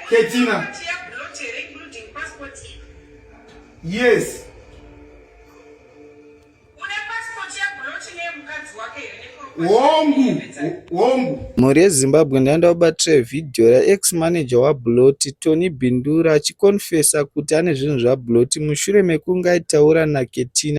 Ketina. Yes. mhuri yezimbabwe ndaenda kubatira vhidhiyo raex manager wabloti tony bindura achikonfesa kuti ane zvinhu zvabloti mushure mekunge aitaura naketina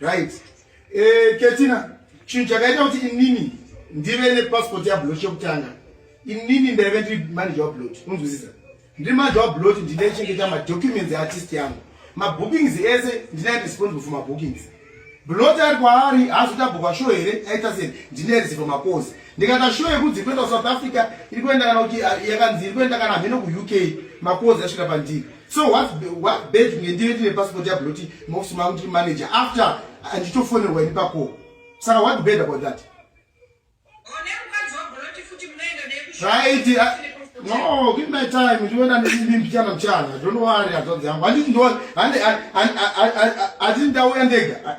right eh ketina chinhu chakaita kuti inini ndive nepassport yablot yekutanga inini ndaive ndiri manager wablot unzwisisa ndiri manager wablot ndinaichengeta madocuments eartist yangu mabookings ese ndinai responsible for mabookings blot ari kwaari haazoita bhuka show here aita sei ndinai resivo mapozi ndikata show yekunzi kuenda kusouth africa iri kuenda kana kuti ah, yakanzi iri kuenda kana hameno kuuk mapozi asvika pandiri so what what bad kunge ndive ndine passport yabloti maofisi mangu ndiri manager after anditofonerwa ini pako saka what bad about that right uh, no give my time ndiona ndini mchana mchana don't worry azvadzi yangu handiti ndo handiti ndauya ndega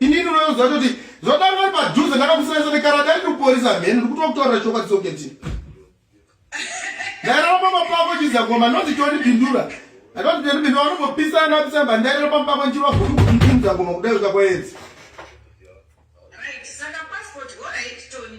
inini unoziva toti zvatanga vari padhuze ndakamusanisa nekarada iri kuporisa mheni ndikuti wakutaurira chokwadi soketi ndairara pamba pako chizagoma noti tondipindura atoti tondipindura vanongopisana apisana ba ndairara pamba pako ndichirwa kuti kuiimzagoma kudai zvika kwaedzi Right, so the passport, all right, Tony.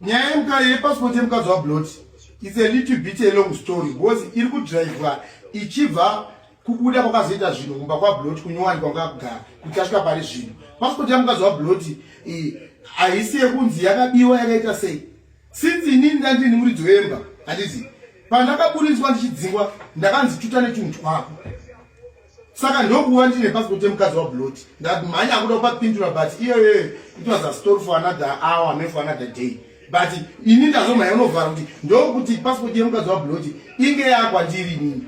nyaya yemukadzi yepassport yemukadzi wablot its a little bit a long story because iri kudrivwa ichibva kubuda kwakazoita zvinhu kumba kwablot kunyowani kwanga akugara kuti asvika pari zvinhu passport yamukadzi wablot haisi yekunzi yakabiwa yakaita sei since inini ndandini muridzi wemba handiti pandakaburitswa ndichidzingwa ndakanzi tuta netunhu twako saka ndokuva ndine pasipoti yemukadzi wabloti ndamhanya akuda kupapindura but iyoyo it was a story for another hour me for another day but ini ndazomhanya unovhara kuti ndokuti pasipoti yemukadzi wabloti inge yakwandiri nini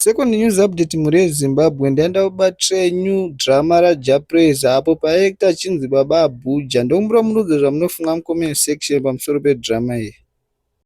second news update mhuri yezimbabwe ndaenda kubatire new drama rajapraise apo paekta achinzi baba abhuja ndokumbira murudze zvamunofunga mucomment section pamusoro pedrama iyi